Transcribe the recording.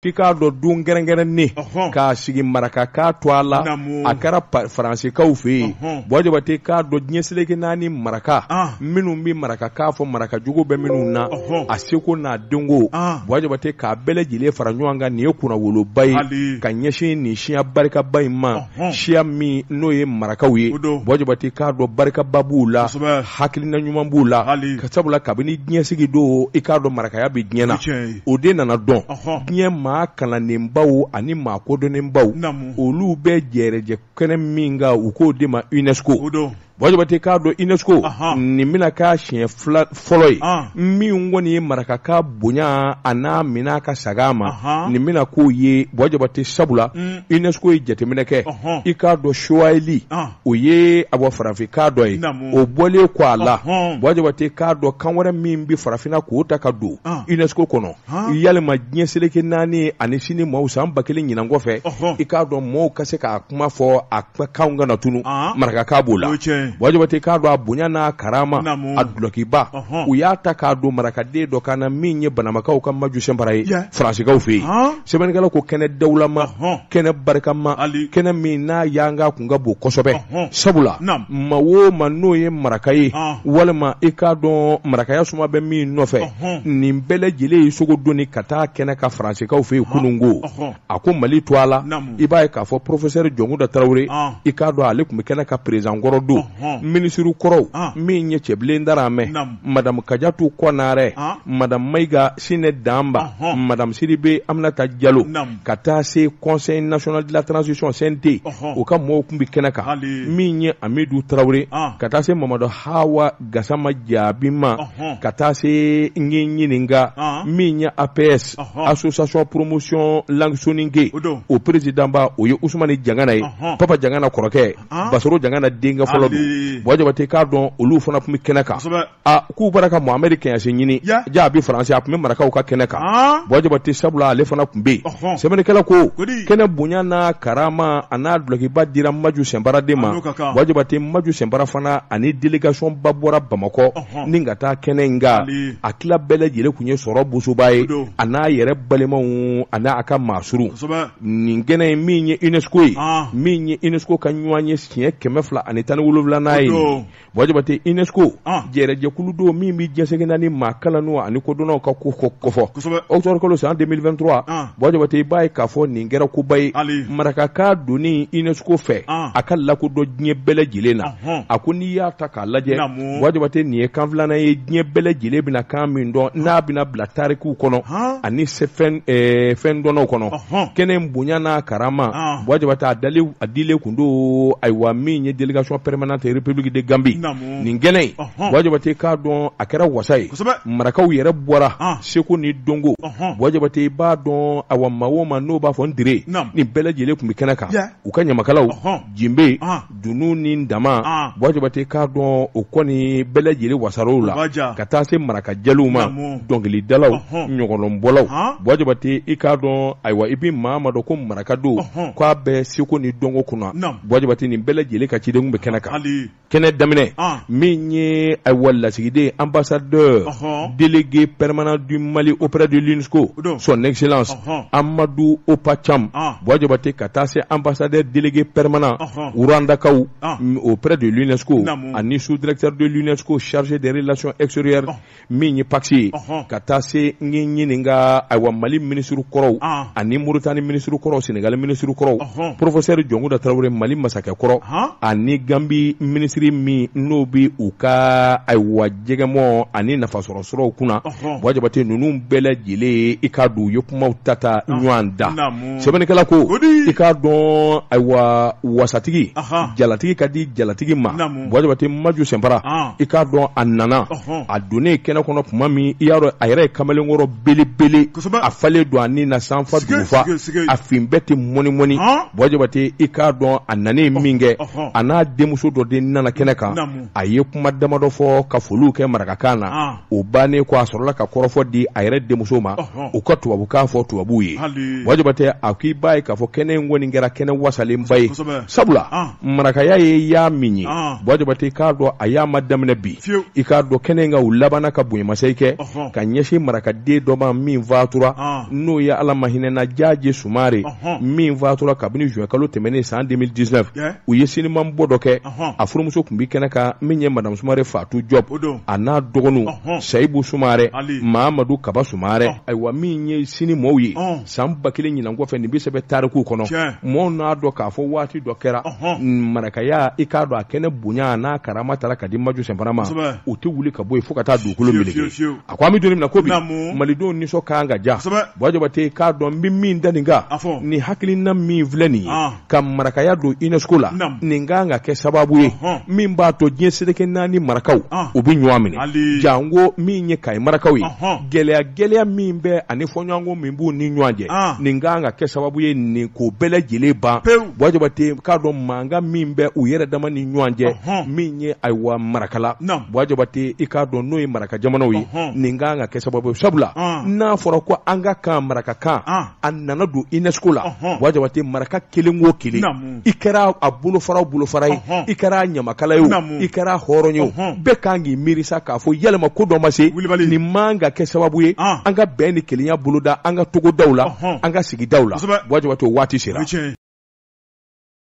k'i k'a dɔn don kɛrɛnkɛrɛnnen k'a sigi marakakan tɔgɔ la a kɛra faransikaw fɛ yen buwa jabate k'a dɔn diɲɛ seleke naani maraka minnu bɛ marakakan fɔ maraka jogo bɛ minnu na a seko n'a dɔnko buwa jabate k'a bɛɛ lajɛlen fara ɲɔgɔn kan nin ye kunnawoloba ye ka ɲɛsin nin siya barikaba in ma siya min n'o ye marakaw ye buwa jabate k'a dɔn barikaba b'u la hakilina ɲuman b'u la ka sabula kabini diɲɛ sigi don i k'a dɔn marakaya bɛ diɲɛ na o de nana dɔn diɲɛ maa kalannenbaw ani maa kodɔnnenbaw olu bɛ jɛrɛjɛ kɛnɛ min kan u k'o de ma UNESCO Buwa Jabate k'a dɔn UNESCO nin bɛna k'a siɲɛ fɔlɔ ye min kɔni ye marakakan bonya a n'a minɛ ka saga ma nin bɛna k'o ye buwa jabate sabula UNESCO ye jateminɛ kɛ i k'a dɔn suwahili o ye a bɔ farafinkan dɔ ye o bɔlen kɔ a la buwa jabate k'a dɔn kan wɛrɛ min bɛ farafinna k'o ta ka don UNESCO kɔnɔ yalima diɲɛ seleke naani ani sini maaw san ba kelen ɲinan kɔfɛ i k'a dɔn mɔgɔw ka se k'a kuma fɔ a kanw kana tunun marakakan b'o la buwa jabate k'a dɔn a bonya n'a karama a dulɔkiba u y'a ta k'a don marakaden dɔ kan na min ye banamakaw ka maju sinpara ye faransikaw fɛ yen sɛbɛnnikɛla ko kɛnɛ dawulama kɛnɛ barikama Ali. kɛnɛ min n'a yanga kun ka bon kosɛbɛ Ɔhɔn. sabula Naam. maa o maa n'o ye maraka ye Ɔn. walima i k'a dɔn marakaya suma bɛ min nɔfɛ Ɔhɔn. nin bɛɛ lajɛlen ye sogo donni ka taa kɛnɛ kan faransikaw fɛ yen kunun ko Ɔhɔn. a ko mali tɔgɔ la Naam. i b'a ye k'a fɔ porofesɛri jɔnkuda tarawele Ɔn. i k'a dɔn ale tun bɛ kɛnɛ kan peresidan kɔrɔ don Ɔhɔn. minisiri kɔrɔw Ɔn. min ye cɛbilen daramɛ Naam. madamu kajatu kɔnarɛ Ɔn. madamu mayiga Sine Danba, uh -huh. Madame Sidibe Aminata Diallo, Nam. ka taa se Conseil national de la transition CNT, uh -huh. o ka mɔgɔw tun bɛ kɛnɛ kan, Hali. min ye Amidu Traore, Ah. ka taa se Mamadu Hawa Gasama Jaabi ma, Uh -huh. ka taa se n ye n ɲininka, Ah. min ye APS, Uh -huh. Association Promotion Langue Soninke, O don. o présidentba o ye Ousmane Diangana ye, Uh -huh. Papa Diangana kɔrɔkɛ, Ah. Basoro Diangana denkɛ fɔlɔ Hali. don, Buwa Jabate k'a dɔn olu fana tun bɛ kɛnɛ kan. Kosɛbɛ. Ah, k'u bɔra ka Mohamed Kagnassy ɲini yeah. jaa a bɛ France a tun bɛ marakaw ka kɛnɛ kan ah. Buwa Jabate sabula ale fana tun bɛ yen uh -huh. sɛbɛnnikɛla ko kɛnɛ bonya n'a karama a n'a dulɔkiba dira Maju Sinpara de ma Buwa Jabate Maju Sinpara fana ani délégation ba bɔra Bamakɔ uh -huh. ni ka taa kɛnɛ in kan a tila bɛɛ lajɛlen tun ye sɔrɔ bosoba ye a n'a yɛrɛ balimaw a n'a ka maasurun nin kɛnɛ in min ye UNESCO ye ah. min ye UNESCO ka ɲɔgɔnye siɲɛ kɛmɛ fila ani tan ni wolonwulanan ye Buwajabate UNESCO jɛrɛjɛkulu don min bɛ diɲɛ seleke naani maa kalannenw ani kodɔnnaw ka ko kɔfɔ octobre kalo san 2023 Buwajabate i b'a ye k'a fɔ nin kɛra koba ye marakakan donni UNESCO fɛ a ka lakodɔn diɲɛ bɛɛ lajɛlen na a ko n'i y'a ta k'a lajɛ Buwajabate nin ye kan filanan ye diɲɛ bɛɛ lajɛlen bɛna kan min dɔn n'a bɛna bila tarikuw kɔnɔ ani fɛndɔnnaw kɔnɔ kɛnɛ bonya n'a karama Buwajabate a dilen don ayiwa min ye délégation permanente République de Gambie nin kɛnɛ in Buwajabate k'a dɔn a kɛra wasa ye marakaw yɛrɛ bɔra ah. seko ni dɔnko Buwajabate i b'a dɔn awa maa o maa n'o b'a fɔ n dire nin bɛɛ lajɛlen tun bɛ kɛnɛ kan u ka ɲamakalaw jenbe ah. dunun ni ntama ah. Buwajabate k'a dɔn o kɔni bɛɛ lajɛlen wasar'o la ka taa se maraka jeliw ma dɔnkilikilidalaw ɲɔgɔnlɔnbɔlaw baba tɛ i k'a dɔn ayiwa i bɛ maa ma dɔn ko maraka don k' aa bɛ segu ni dɔnko kunna babati nin bɛɛ lajɛlen ka cidenw bɛ kɛnɛ kan kɛnɛ daminɛ min ye ayiwa lasigiden an basa dɔ deli pɛremana di mali oɛradiso son nɛgɛsi amadu opp ca baba tɛ ka taa se an basa deli pɛremana wrandakaw oɛ de so ani sudurre don so sarisi de lasɔn esre min ye pakisi ye ka taa se n k'i ɲininka ayiwa Mali minisiri kɔrɔw ani Moritani minisiri kɔrɔw Senegali minisiri kɔrɔw porofesɛri Jɔnkunda Tarawele Mali masakɛ kɔrɔ ani Ganbi minisiri min n'o bɛ u ka ayiwa jɛgɛmɔn ani nafasɔrɔsiraw kunna Buwajabate ninnu bɛɛ lajɛlen i k'a dɔn u ye kuma tata ɲɔgɔn da sɛbɛnnikɛla ko i k'a dɔn ayiwa wasatigi jalatigi ka di jalatigi ma Buwajabate Manju Sinpara ah. i k'a dɔn a nana a donnen kɛnɛ kɔnɔ tuma min i y'a dɔn a yɛrɛ ye kamalenkɔrɔ belebele a falen don a ni na sanfa dugufa a fini bɛɛ tɛ mɔni mɔni ah. Buwajabate i k'a dɔn a nanen min kɛ a n'a denmuso dɔ de nana kɛnɛ kan a ye kuma damadɔ fɔ ka foliw kɛ marakakan na ah. o bannen ko a sɔrɔla ka kɔrɔfɔ di a yɛrɛ denmuso ma u ka tubabukan fɔ tubabuw ye Buwajabate a k'i b'a ye k'a fɔ kɛnɛ in kɔni kɛra kɛnɛ wasalenba ye sabula marakaya ye y'a min ye ah. Buwajabate k'a dɔn a y'a ma daminɛ bi i k'a dɔn kɛnɛ in kan u labanna ka bonyamasegin kɛ ka ɲɛsin marakaden dɔ ma min fatura ah. n'o ye Ala ma hinɛna Jaje Sumare min fatura kabini juin kalo tɛmɛnen san 2019 u ye sinimanbɔ dɔ kɛ a furumuso tun bɛ kɛnɛ kan min ye Madamu Sumare Fatu Jɔb a n'a dɔgɔninw Sayibu Sumare Mamadu Kaba Sumare ayiwa min ye sini mɔgɔw ye san ba kelen ɲinan kɔfɛ nin bɛ sɛbɛn tarikuw kɔnɔ mɔgɔw n'a dɔn k'a fɔ waati dɔ kɛra marakaya i k'a dɔn a kɛnɛ bonya n'a karama taara ka di Manju Sinpara ma o tɛ wuli ka bɔ yen fo ka taa dugukolo meleke a ko an bɛ don min na ko bi malidenw nisɔn ka kan ka diya Buwajabate k'a dɔn n bɛ min da nin kan ni hakilina min filɛ nin ye ka marakaya don unesco la nin kan ka kɛ sababu ye min b'a to diɲɛ seleke naani marakaw u bɛ ɲɔgɔn minɛ janko min ye kayi marakaw ye gɛlɛya gɛlɛya min bɛ ani fɔɲɔgɔnkɔ min b'u ni ɲɔgɔn cɛ nin kan ka kɛ sababu ye nin ko bɛɛ lajɛlen ban buwa jabate i k'a dɔn mankan min bɛ u yɛrɛ dama ni ɲɔgɔn cɛ min ye ayiwa marakala buwa jabate i k'a dɔn n'o ye maraka jamanaw ye nin kan ka kɛ sababu ye sabula n'a fɔra ko an ka kan marakakan a nana don unesco la buwa jabate maraka kelen o kelen i kɛra a bolofara o bolofara ye i kɛra ɲamakala ye o i kɛra hɔrɔn ye o bɛɛ kan k'i miiri sa k'a fɔ yɛlɛma ko dɔ ma se nin man ka kɛ sababu ye an ka bɛn ni kelenya boloda an ka togodaw la an ka sigidaw la buwa jabate o waati sera